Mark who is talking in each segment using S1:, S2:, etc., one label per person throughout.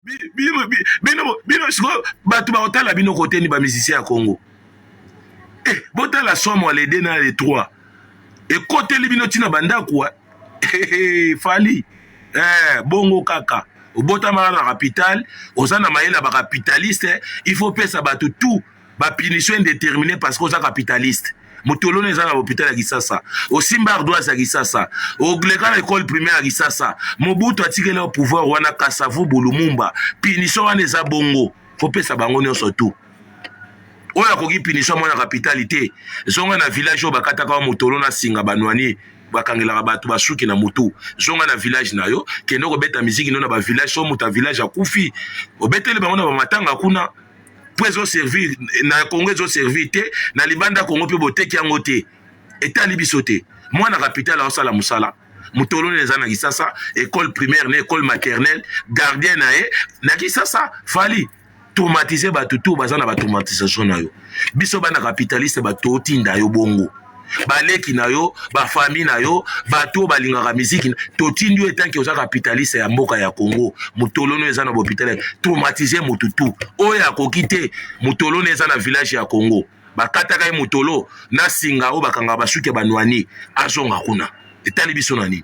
S1: bino bino bino sikoyo bato bakotala bino koteni ba musicien ya congo eh, botala somo le 2 na le 3 ekoteli bino ntina bandako fali eh, bongo kaka obotamaka na capital oza na mayele ya bacapitaliste il faut pesa bato tout ba punition indetermine parce que oza capitaliste motoloni eza na hopital ya kisasa osimba ardoise ya kisasa oleka na ekole primaire ya kisasa mobutu atikeli yo pouvoir wana kasavu bulumumba punition wana eza bongo kopesa bango nyonso tu oyo akoki punition mwana kapitali te zonga na village oyo bakataka wa motolo na singa banwani bakangelaka bato basuki na motu zonga na village na yo kende kobeta miziki no na bavillage so moto ya village akufi obeteli bango na bamatanga kuna mpo ezo servir na congo ezo servir te na libanda congo mpe boteki yango te etali biso te mwana kapitale aosala mosala motoloni eza na kisasa ekole primaire na ekole maternelle gardien na ye na kisasa fali traumatise bato tour baza na batraumatisation na yo biso bana capitaliste bato otinda yo bongo baleki na yo bafami na yo bato oyo balingaka miziki totindi yo etanke oza kapitaliste ya mboka ya congo motolono eza na bopitale traumatise motu tu oyo akoki te motolono eza na village ya congo bakataka ye motolo na singa oyo bakangaka basuki ya banwani azonga kuna etali biso na nini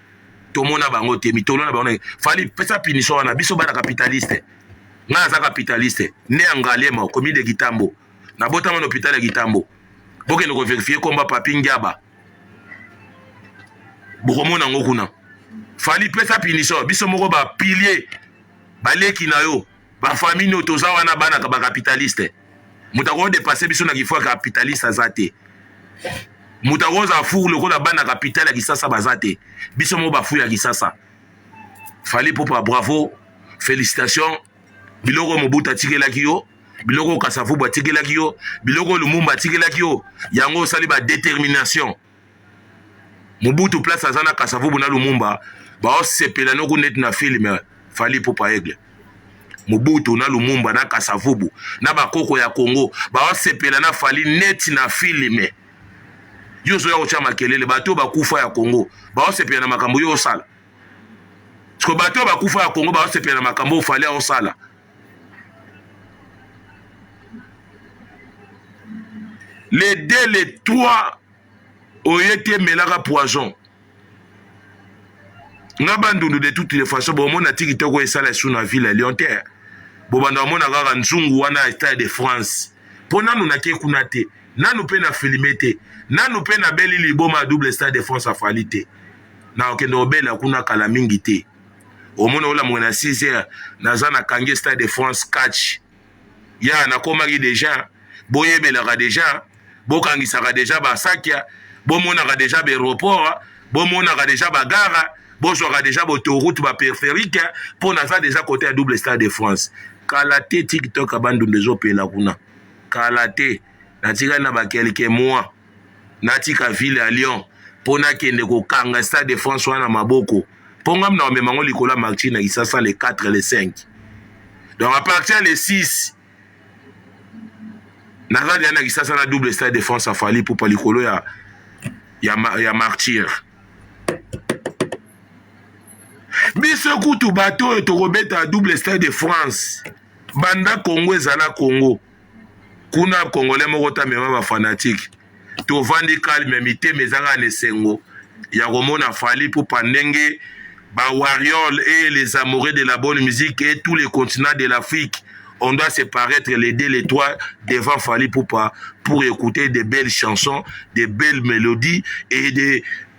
S1: tomona bango te mitolo na bango fali pesa punition wana biso bana capitaliste ngai aza capitaliste ne ya ngaliema commune de kitambo nabotama na hôpital ya kitambo bokende koverifie komba papi ngiaba bokomona yango kuna fali pesa punition biso moko bapilier baleki na yo Ba famille no toza wana bana ka ba capitaliste. Moto ako depasser biso na kifua capitaliste aza te. Moto ako za fou lokola bana capital ya Kisasa baza te. Biso mo ba fou ya Kisasa. Fally Ipupa bravo. Félicitations. Biloko Mobutu atikelaki yo biloko kasavubu atikelaki yo biloko lumumba atikelaki yo yango osali ba determination Mobutu place aza na Kasavubu na Lumumba baosepela noku neti na film Fally Ipupa Aigle. Mobutu na Lumumba na Kasavubu na bakoko ya Congo baosepela na Fally neti na film. Yo ozoya kotya makelele, bato bakufa ya Congo baosepela na makambo yo osala? Siko bato bakufa ya Congo baosepela na makambo Fally aosala? le deux le trois oye te melaka poison nga bandundu de toutes les façons bomona ti kitoko esala esu na ville ya lyon te bobanda omona kaka nzungu wana ya stade de france mpo nanu nake kuna te nanu mpe na filme te nanu mpe nabeli liboma ya double stade de france afali te nakokende obela kuna kala mingi te omoni olamuka na 6 heures naza na kange stade de france catch ya nakomaki deja boyebelaka deja bokangisaka deja basakya bomonaka deja baeroport bomonaka deja bagara bozwaka deja bautoroute baperiferique mpo naza deja kote ya double stade de france kala te tiktok ya bandundu ezopela kuna kala te natikali na bakelke mois natika ville ya lyon mpo nakende kokanga stade de france wana na maboko mpo ngai mna komema yango likolo ya martir na kisasa le 4 le 5 donc à partir le 6 naza deya na kisasa na double stade de france afali pupa likolo ya, ya, ya martire biso kutu bato oyo tokobeta double stade de france banda congo ezala congo kuna congolais moko ta mema ba fanatique tovandi calme mitema ezanga na esengo ya komona fali pupa ndenge ba warriors et les amoureux de la bonne musique et tous les continents de l'afrique on doit se paraître les deux les trois devant fali pupa pour écouter de belles chansons de belles mélodies et des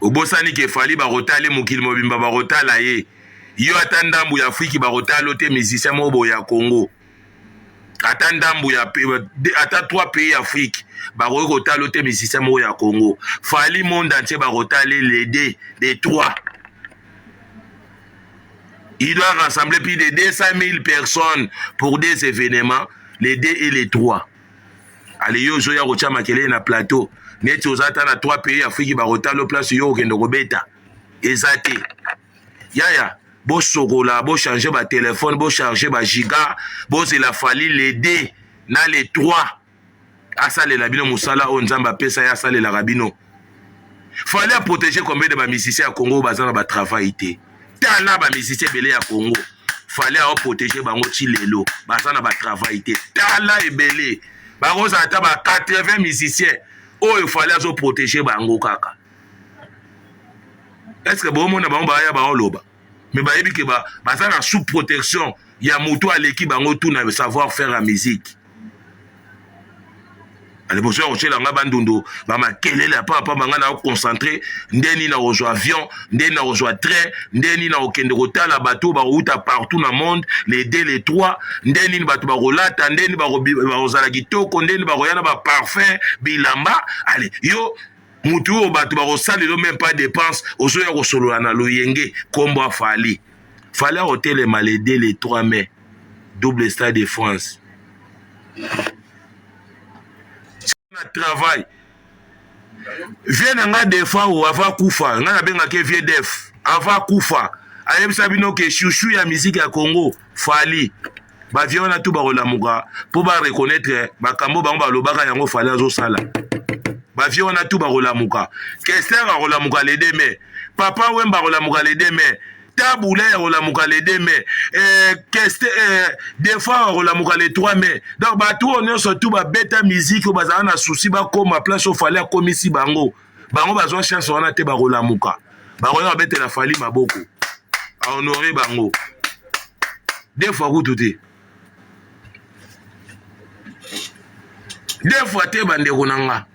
S1: obosani ke fali bakotala ye mokili mobimba bakotala ye yo ata ndambu ya afriki bakotala yo te musicien moko boye ya congo ata ndambu ya ata 3 pays ya afriki bakoki kotala yo te musicien moko ya congo fali monde entier bakotala le de de 3 il doit rassembler plus de 200 000 personnes pour des événements les deux et les trois ale yo ozoya kotya makelele na plateau neti oza ata na trois pays afriki bakotala yo place yo okende kobeta eza te yaya bosokola bochange batelefone bocharge bagiga bozela fali le 2 na le 3 asalela bino mosala oyo nzambe apesa ye asalelaka bino fallait protéger combien de ba musiciens ya Congo baza na ba travail te tala ba musiciens ebele ya Congo fallait a protéger bango ti lelo baza na ba travail te tala ebele bakozala ata ba 80 musiciens oyo fallait azo protéger bango kaka est ce que bomona bango baya baoloba mais bayebi ke ba, baza na sous protection ya moto aleki bango tout na savoir faire ya musique aliboso ya kotyela ngai bandundu bamakelele apapamba ngai nakoconcentre nde nini nakozwa avion nde nini nakozwa train nde nini nakokende kotala bato bakouta partout na monde le de le trois nde nini bato bakolata nde nini bakozala kitoko nde nini bakoya na baparfum bilamba ale yo mutu oyo bato bakosalelo meme pas dépense ozoya kosolola na loyenge kombo ya fali fali akotelema le 2 le 3 mai double stade de france na travail vie na nga defa o ava kufa nga nabengaki vie def ava kufa ayebisa bino ke shushu ya miziki ya congo fali ba vieux wana tout bakolamuka mpo ba reconnaître makambo bango balobaka yango fale azosala ba vieux wana tout bakolamuka kester akolamuka le 2 mai papa wemba akolamuka le 2 mai tabula yakolamuka le 2 mai eh, keste eh, defa yakolamuka le 3 mai donc bato oyo nyonso tu babeta miziki oyo bazala na susi bakoma place ofale akomisi bango bango bazwa chance wana te bakolamuka bakoya babetela fali maboko ahonore bango de fois kutu te de fois te bandeko na nga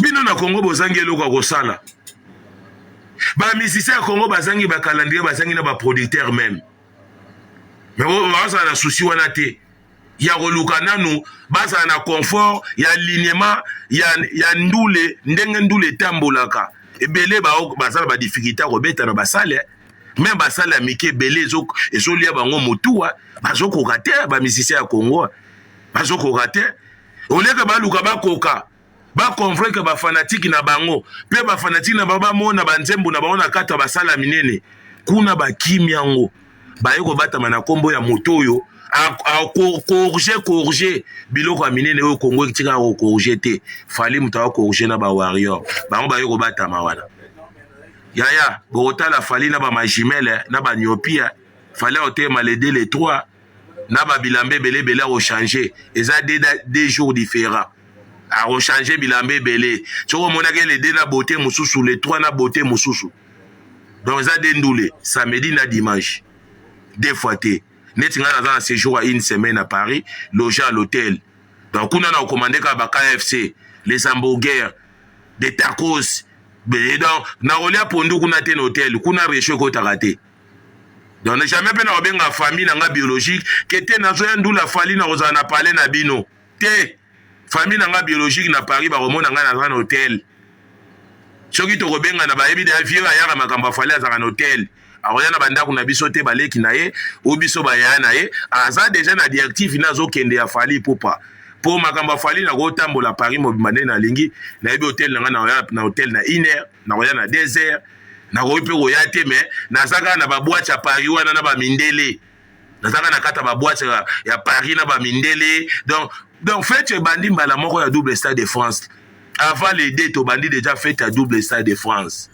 S1: bino na kongo bozangi eloko ya kosala bamisisi ya kongo bazangi bakalandrie bazangi na baproducteur meme me bazala na susi wana te ya koluka nanu bazala na confort ya alignement ya, ya ndule ndenge ndule etambolaka ebele baza na badifficulté ya kobeta na basale meme basale ya mike ebele ezolia bango motuwa bazokoka te bamisisia ya kongo bazokoka te oleke baluka bakoka ba convaincre ba fanatiki na bango mpe ba fanatiki na bango bamona banzembo na bango na kati ya basala minene kuna bakimi yango baye kobatama na nkombo ya moto oyo akorge korge biloko ya minene oyo kongo etika kokorge te fali moto akokorge na ba warrior bango baye kobatama wana yaya bokotala fali na bamajimele na baniopia fali aoteyema le 2 le 3 na ba bilamba ebele ebele ako changer eza deux, deux jours différents ako changer bilamba ebele soki omonaki le deux na beauté mosusu le trois na beauté mosusu donc eza deux ndule samedi na dimanche deux fois te neti ngai naza na séjour ya une semaine à paris loge à l'hôtel donc kuna na okomande kaka ba kfc les hamburgers des tacos donc nakolia pondu kuna te na hôtel kuna recho ekotaka te donc jamais mpe nakobenga famille na nga biologique ke te nazoya ndula fali nakozala na pale na bino te famille na nga biologique na paris bakomona ngai naza na hotel soki tokobengana bayebi da vieux ayaka makambo afali azalaka na hotel akoya na bandako na biso te baleki na ye o biso bayaya na ye aza deja na directive na azokende ya fali pupa mpo makambo afali nakotambola paris mobimba nde nalingi nayebi hotel na ngai na hotel na iner nakoya na desert nakoki mpe koya te me naza kaka na babwate ya paris wana na bamindele naza kaka na kati ya babwate ya paris na bamindele donc donc fete ebandi mbala moko ya double stade de france avant les deux tobandi déjà fete ya double stade de france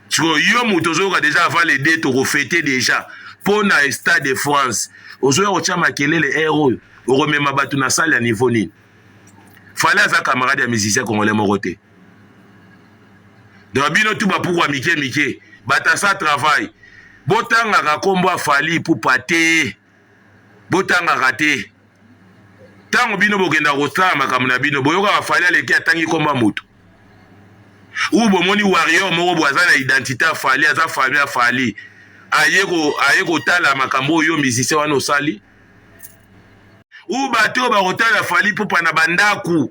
S1: sikoyo yo moto ozoyoka déjà avant les deux tokofete déjà mpo na stade de france ozoya kotya makelele ere eh, oyo okomema bato na sale ya niveau nini fale aza camarade ya musicien congolais moko te donc bino tu bapukwa mike mike batasa travail botangaka nkombo ya fali ipupa te botangaka te ntango bino bokenda kosala makambo na bino boyokaka fali aleki atangi nkombo ya moto ou bomoni warrior moko bo aza na identité ya fali aza fali ya fali aye kotala makambo oyo musicien wana osali ou bato oyo bakotala fali ipupa na bandako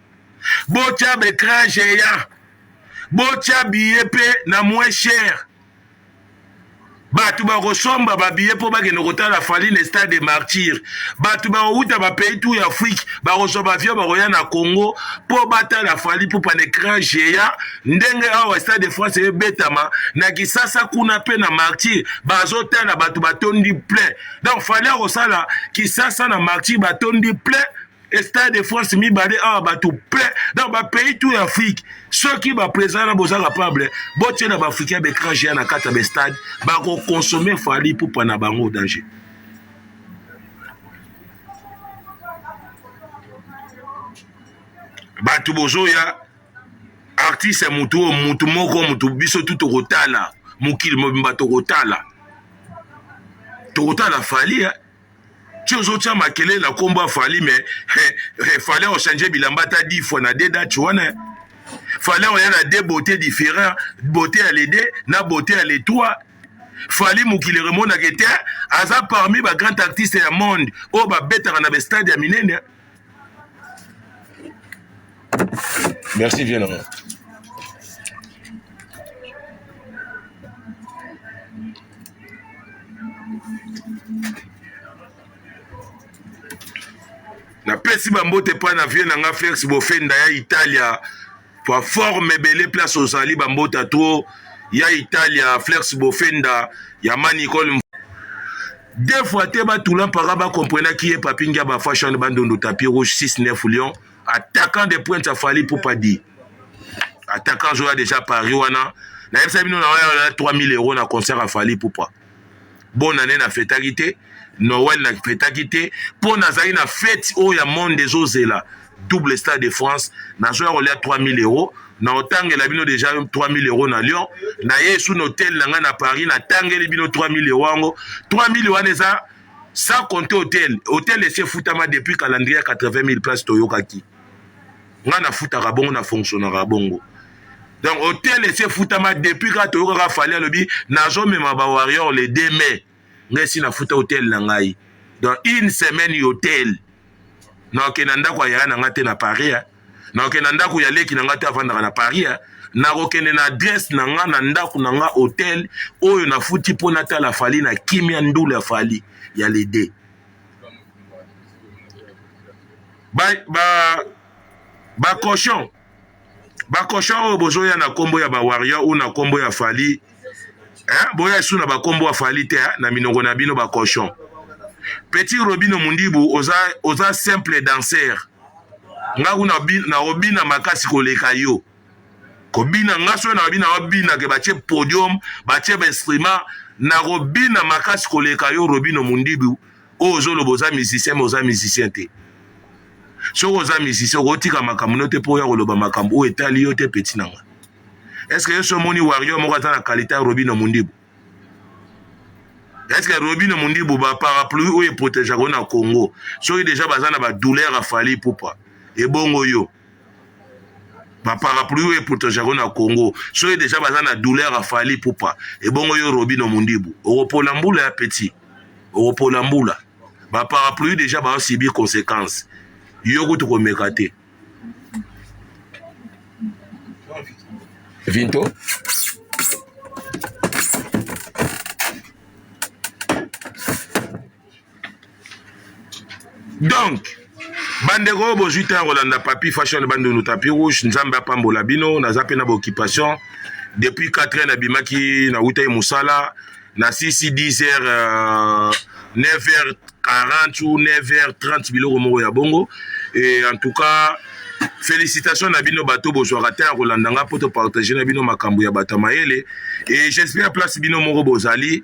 S1: botya b'ecran geant botya biye mpe na moins cher bato bakosomba babiye mpo bakende kotala fali na stade de martyr bato bakowuta bapays tour ya afrique bakozwa bavio bakoya na congo mpo batala fali pupa na ecran geant ndenge awa stade de france ebetama na kisasa kuna mpe na martyr bazotala bato batondi plein donc fali akosala kisasa na martyr batondi plein stade de france mibale awa bato plein donc bapays tout ya afrique soki baprésident wana boza capable botie na baafricain baécran géant na kati ya bestade bakokonsome fali pupa na bango danger bato bozoya artiste motu oyo motu moko motu biso tu tokotala mokili mobimba tokotala tokotala fali eh? ti ozotia makelele na nkombo ya fali me fali ochange bilamba ata di fois na de dati wana fali oya na de beauté différent beauté ya le de na beauté ya le trois fali mokili remonaka ete aza parmi ba grand artiste ya monde oyo babetaka na bestade ya minene Merci vieux na nga. napesi bambote epai na vieux na nga felix bofenda ya italia Toi forme ebele place ozali bambota tuo ya Italia Flex Bofenda ya ma Nicole deux fois te batula mpaka bakomprenaki ye papi ngiaba fashion bandundu tapi rouge 6 9 lion attaquant de pointe ya fali pupa di attaquant azoya déjà paris wana nayebisa bino na oya 3000 euro na concert ya fali pupa bonane na fetaki te noel na fetaki te mpo nazali na fete oyo ya monde ezozela double stade de france nazoya kolia 3000 euro na otangela bino deja 3000 euro na lyon naye esu na hotel na ngai na paris natangeli bino 3000 euro yango 3000 wana eza sans compter hotel hotel esi efutama depuis calendrier ya 80 000 place toyokaki nga nafutaka bongo na fonctionnaka bongo donc hotel esi efutama depuis kaka toyokaka fali alobi nazomema ba warrior le 2 mai nga esi nafuta hotel na ngai donc une semaine hotel naoke na ndako ya yaya na nga te na paris naoke na ndako ya leki na nga te avandaka na paris nakokende na adresse na nga na ndako na nga hotel oyo nafuti mpo natala fali na kimia ndula fali ya lede ba ba ba cochon ba cochon oyo bozoya na kombo ya ba warrior ou na kombo ya Fally hein boya isu na ba kombo ya Fally te hein? na minoko na bino ba cochon petit Robino Mundibu oza oza simple danseur nga kuna na obina makasi koleka yo kobina nga soki na bina wabina ke batie podium batie ba instrument na kobina makasi koleka yo Robino Mundibu oyo ozoloba oza musicien me oza musicien te soki oza musicien okotika makambo no te mpo oya koloba makambo oyo etali yo te peti na ngai eske yo so omoni wario moko aza na kalite ya robino mondibu eske robino mondibu baparapluie oyo eprotegeaka yo na congo soki deja baza na badouleur ya fali pupa ebongo yo ba parapluie oyo epotosa yango na congo soki deja baza na douleur ya fali pupa ebongo yo robino mundibu okopola mbula ya petit okopola mbula ba parapluie deja baosibi consequence yo kutu komeka te vinto donc bandeko oyo bozwi ntango ya kolanda papi fashion bandundu tapi rouge nzambe apambola bino naza mpe na baoccupation depuis 4 heures nabimaki nawutaki mosala na sisi 10 heures euh, 9 heures 40 ou 9 heures 30 biloko moko ya bongo et en tout cas félicitation na bino bato bozwaka ntango ya kolanda ngai mpo topartage na bino makambo ya bato ya mayele et j'espère place bino moko bozali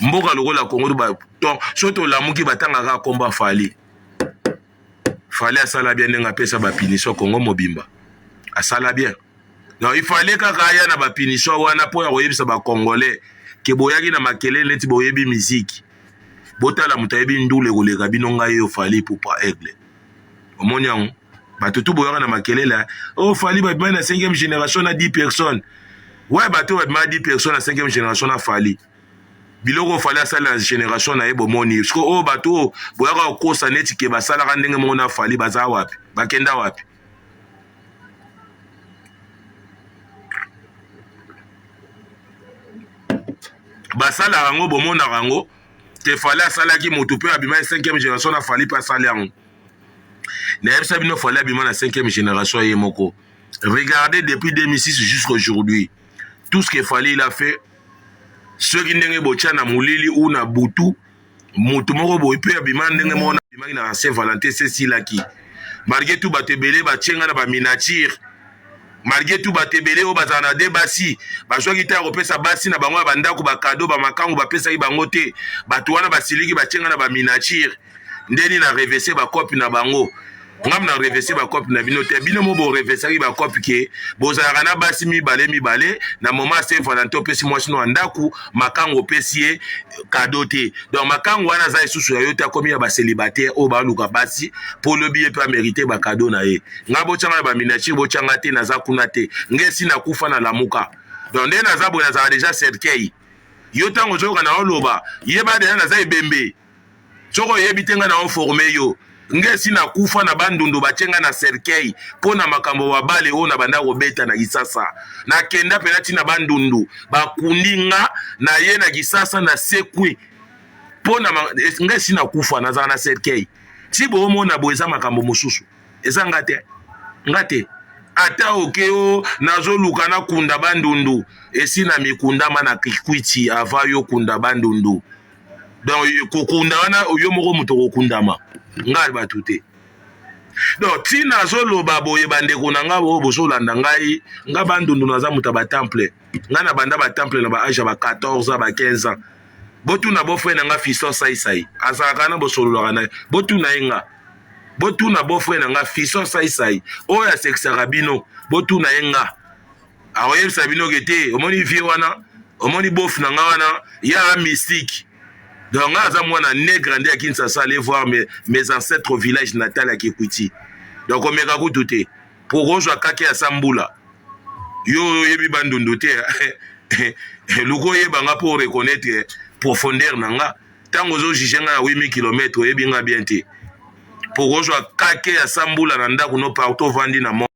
S1: mboka lokola congo soki tolamuki batanga kaka nkombo ya fali fali asala bien ndenge apesa bapunition congo mobimba asala bien donc ifale kaka aya na bapunition wana mpo ya koyebisa bacongolais ke boyaki na makelele neti boyebi miziki botala moto ayebi ndule koleka bino ngai yo fali pupa aigle omoni yango bato tu boyaka na makelele o oh, fali babimai na 5e génération na 10 personnes we bato oyo babimai na 10 personnes na 5e génération na fali biloko fali asali na generation na ye bomoni siko oyo oh, bato oyo oh, boyaka kokosa neti ke basalaka ndenge moko na fali baza wapi bakenda wapi basalaka yango bomonaka yango te fali asalaki moto mpe abima ya 5e generation na fali mpe asali yango nayebisa bino fali abima na 5e generation ye moko regardez depuis 2006 jusqu'aujourd'hui tout ce que fali il a fait soki ndenge botya na molili ou na butu moto moko boye mpe abima ndenge moko na abimaki na saint valentin sesilaki malgre tout bato ebele batye ngai na baminature malgre tout bato ebele oyo bazala na de basi bazwaki ntango kopesa basi na bango ya bandako bakado bamakango bapesaki bango te bato wana basiliki batye ngai na baminature ndeni na revese bakopi na bango nga mna revese bakope na bino te bino mo borevesaki bakope ke bozalaka na basi mibale mibale na moma se valentin opesi mwasi no ya ndako makango opesi ye kado te donc makango wana aza lisusu ya yo te akomi ya baselibataire oyo baluka basi mpo olobi ye mpe amerite bakado na ye nga botyanga na baminatire botyanga te naza kuna te nga esi nakufa na lamuka donc nde naza boye nazalaka deja cercueil yo ntango ozoyoka na oloba yeba deja naza ebembe soki oyebi te nga na oforme yo nga esi na kufa na bandundu batye nga na cercueil mpo na makambo wa bale oyo na banda kobeta na kisasa nakenda mpena ntina bandundu bakundi nga na ye na kisasa na sekwi mpo na nga esi na kufa nazala na cercueil ti boomona boye eza makambo mosusu eza nga te nga te ata oke o nazoluka nakunda bandundu esi na mikundama na kikwiti ava yo kunda bandundu donc kokunda wana yo moko moto okokundama ngai bato te donc ntina azoloba boye bandeko na ngai oyo bozolanda ngai ngai bandundu naza moto ya batemple ngai na banda batemple na baage ya ba 14 ans ba 15 ans botuna bofre na ngai fiston saisai azalaka na bosololaka na ye botuna ye ngai botuna bofre na ngai fiston saisai oyo asekisaka bino botuna ye ngai akoyebisa bino ke te omoni vie wana omoni bof na nga wana ya mystique donc nga aza mwana ne grandi ya kinshasa aller voir mes, mes ancêtres au village natal ya kikwiti donc omeka kutu te po okozwa kake ya sambula yo oyebi bandundu te luka oyeba nga mpo oreconnaitre profondeur na nga ntango ozojuge nga na 8000 km oyebi nga bien te mpo okozwa kake ya sambula na ndako no partout ovandi na